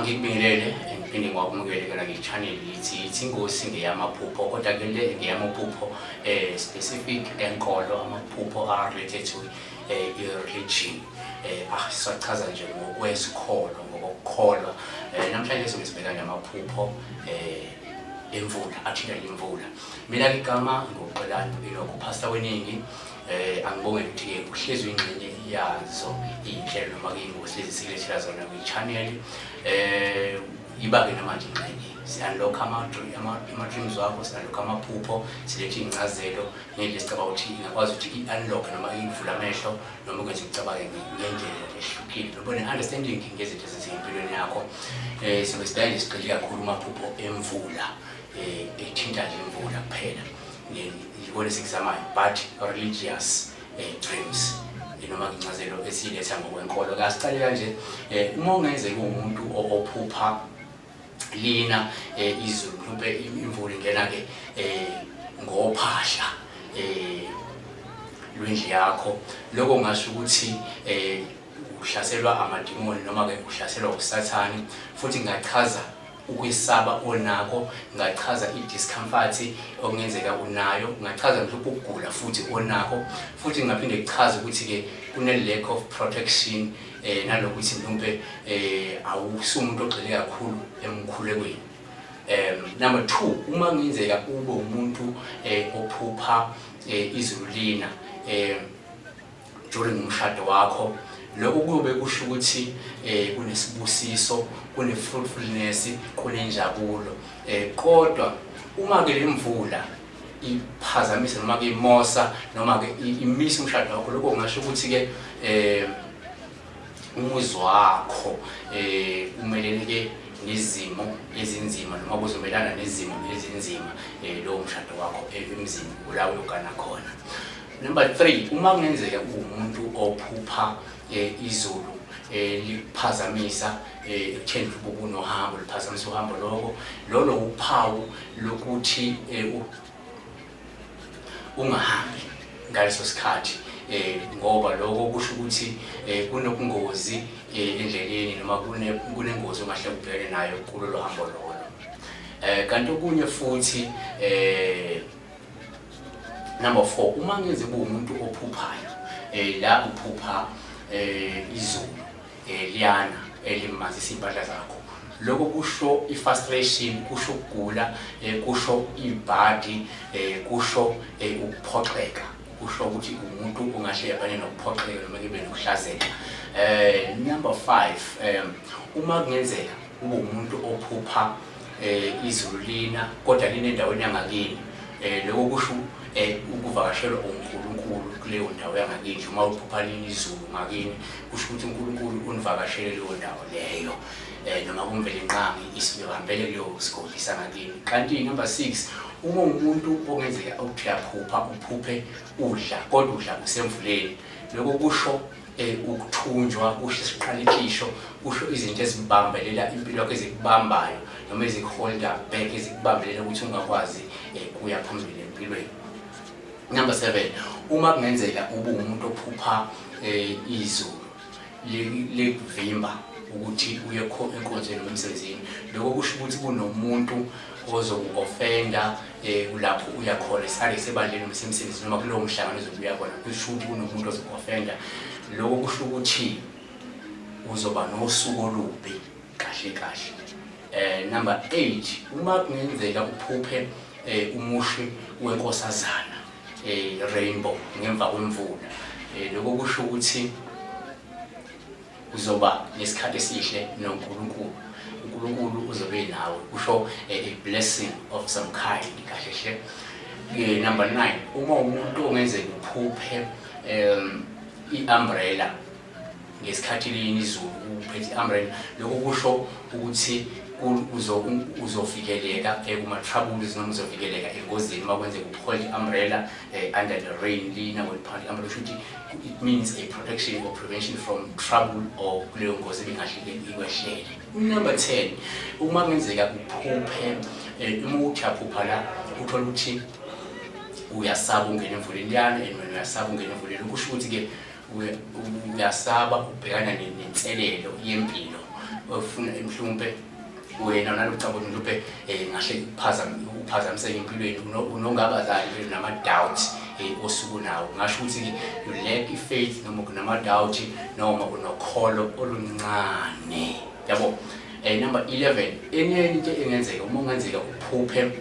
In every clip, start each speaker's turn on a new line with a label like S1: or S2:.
S1: Ngikubingelele ngiphinde ngiwakumukele kona nge-channel ithi ithi ingosi ngeyamaphupho kodwa ke le ngeyamaphupho eh specific enkolo amaphupho are related to eh religion eh asachaza nje ngokwesikholo ngokukholwa eh, namhlanje sobe sibheka namaphupho eh emvula athinta imvula mina ngigama ngokuqelana ilokho pastor weningi Eh angibonge ukuthi uhlezi ingxenye yazo inhlelo noma ke ingosi ezisilethela zona kwi channel eh ibake namanje ingxenye siyanlokha ama-dreams wakho siyanlokha amaphupho silethe iy'ncazelo ngendlela esicabanga ukuthi ingakwazi ukuthi i-unlock noma ivule amehlo noma ukwenza ucabange ngendlela ehlukile noba ne-understanding ngezinto ezizimpilweni yakho um eh, sibe sidayile sigxile kakhulu umaphupho emvula eh, ethinta nje imvula kuphela yikona esikuzamayo but religious eh, dreams noma incazelo esiletha ngokwenkolo kasiqale kanje eh, uma ungenzeka umuntu ophupha lina eh, izulu mhlawumbe imvula ingena-ke um ngophahla um lwendlu yakho lokho ngasho ukuthi um uhlaselwa amadimoni noma-ke uhlaselwa usathane futhi ngachaza ukwesaba onako ngachaza i-discomfort okungenzeka unayo ngachaza mhlawumbe ukugula futhi onako futhi ngaphinde kuchaze ukuthi-ke kune-lack of protection um eh, nalokuthi mhlawumbe um eh, awusumuntu ogxile kakhulu emkhulekweni um number two uma kungenzeka ube umuntu um ophupha um izulu lina um during umshado wakho lokho kuyobe kusho ukuthi eh kunesibusiso kunefruitfulness kunenjabulo eh kodwa uma ke lemvula iphazamisa noma ke imosa noma ke imisa umshado wakho lokho kungasho ukuthi ke eh umuzi wakho eh umelele ke nezimo ezinzima noma kuzomelana nezimo ezinzima eh lowo mshado wakho emzini ulawo lokana khona Number 3 uma kungenzeka uwumuntu ophupha eh, izulu eh, liphazamisa eh, ekutheni ubuku nohambo liphazamisa uhambo lokho lolo uphawu lokuthi eh, u- ungahambi ngaleso sikhathi eh, ngoba lokho kusho ukuthi eh, kunobungozi eh, endleleni noma kune- kunengozi ongahle ubhekene nayo kulolo hambo lolo eh, kanti okunye futhi eh, Number 4 uma ngeze kuwumuntu ophuphayo eh la uphupha eh izulu eh liyana elimazisa impahla zakho lokho kusho i-frustration kusho ukugula eh, kusho ibhadi eh, kusho eh, ukuphoxeka kusho ukuthi umuntu ungahle yabane nokuphoxeka noma kube nokuhlazeka eh number 5 um uma kungenzeka ube umuntu ophupha eh izulu lina kodwa lina endaweni yangakini eh lokho kusho eh ukuvakashelwa uNkulunkulu kuleyo ndawo yangakini uma uphupha lini izulu ngakini kusho ukuthi uNkulunkulu univakashele leyo ndawo leyo eh noma kumvele inqangi isibambele kuleyo sigodi sangakini kanti number 6 uma umuntu ongenzeka ukuthi uyaphupha uphuphe udla kodwa udla usemvuleni lokho kusho Eh, ukuthunjwa kusho isiqalekisho kusho izinto ezibambelela impilo yakho ezikubambayo noma ezikuholda back ezikubambelela ukuthi ungakwazi eh, kuya phambili empilweni number seven uma kungenzeka ube umuntu ophupha eh, izulu likuvimba ukuthi uye enkonzweni nomsebenzini lokho kusho ukuthi kunomuntu ozoku-ofenda eh kulapho uya khona sale sebandleni noma semsebenzini noma kulowo mhlangano ozobe uya khona kusho ukuthi kunomuntu ozokuofenda lokho kusho ukuthi uzoba nosuku olubi kahle kahle eh number 8 uma kungenzeka uphuphe eh umushi wenkosazana eh rainbow ngemva kwemvula eh lokho kusho ukuthi uzoba nesikhathi esihle noNkulunkulu uNkulunkulu uzobe nawe kusho eh, a blessing of some kind kahle hle eh, number 9 uma umuntu ongenzeka uphuphe um i-umbrella ngesikhathi lini izulu uphethe i-umbrella lokho kusho ukuthi uzovikeleka eh, kuma-troubles noma uzovikeleka engozini uma kwenzeka uphole i-umbrella under the rain lina weliphanda i-umbrella kusho ukuthi It means a protection or prevention from trouble or kuleyo ngozi ebingahle ikwehlele. Number 10, uma kungenzeka uphuphe eh, uma uthi aphupha la uthola ukuthi uyasaba ungena emvuleni liyana and wena uyasaba ungena emvuleni kusho ukuthi ke uyasaba ubhekana nenselelo yempilo ofuna mhlawumbe wena nalocabo niluphe eh, ngahle uphazamiseke empilweni unongabazali vele nama-doubt um eh, osuku nawo ngasho ukuthi-ke you lack i-faith noma kunama-doubt noma unokholo oluncane yabo um eh, number 11 enye into engenzeka uma ungenzeka uphuphe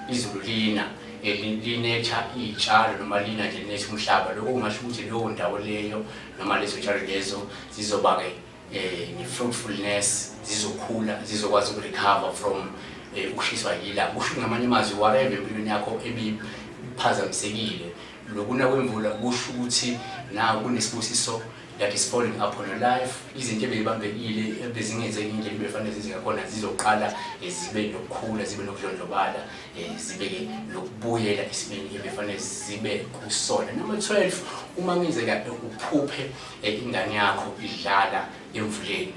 S1: izulu lina linetha iy'tshalo noma lina nje linetha umhlaba lokho kungasho ukuthi leyo ndawo leyo noma lezo tshalo lezo zizoba-ke eh nefruitfulness zizokhula zizokwazi ukurecover from eh, ukushiswa yila kusho ngamanye amazwi whatever empilweni yakho ebiphazamisekile lokuna kwemvula kusho ukuthi nawe kunesibusiso that is falling upon your life izinto ebeyibambekile ebezingenzeki indlela ebefanele zizingakhona zizoqala eh, zibe nokukhula zibe nokudlondlobala eh, zibe-ke nokubuyela esimeni ebefanele zibe kusona number 12 uma ngenzeka uphuphe Eh, ingane yakho idlala emvuleni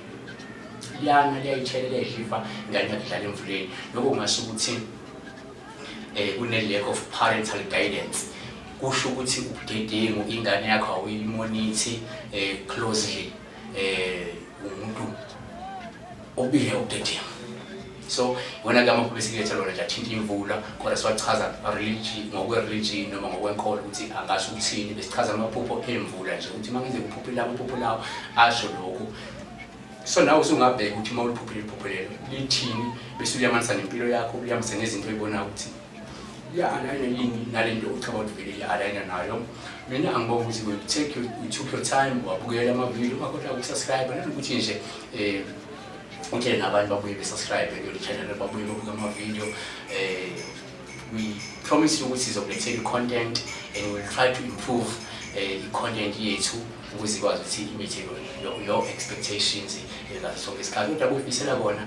S1: liyana liyayithelela idliva ingane yakho idlala emvuleni lokho kungasho ukuthi um kune-lack of parental guidance kusho ukuthi ubudedengu ingane yakho awuyimonithi um eh, closely um umuntu Ubile udedevu. So wena ke amaphupho esiletha lona nje athinta imvula kodwa siwachaza religion ngokwe-religion noma ngokwenkolo ukuthi angasho ukuthini besichaza amaphupho emvula nje ukuthi uma ngenze kuphuphe lawo amaphupho lawo asho lokhu so nawe usungabheka ukuthi uma uliphuphile iphupho lelo lithini bese uliyamanisa nempilo yakho uliyamanisa nezinto oyibonayo ukuthi i-aligner yini nale nto ucaba ukuthi vele i-aligner nayo mina angibonga ukuthi we take your, we took your time wabukela amavidiyo ungakhohlwa ukusubscribe nanokuthi nje um utshele nabantu babuye besubscribe kule channel babuye babuke amavidiyo um eh, we promise you ukuthi sizokulethela i-content and we will try to improve eh, i-content yethu ukuze ikwazi ukuthi imithe your expectations ngaso sonke isikhathi kodwa kuyifisela kona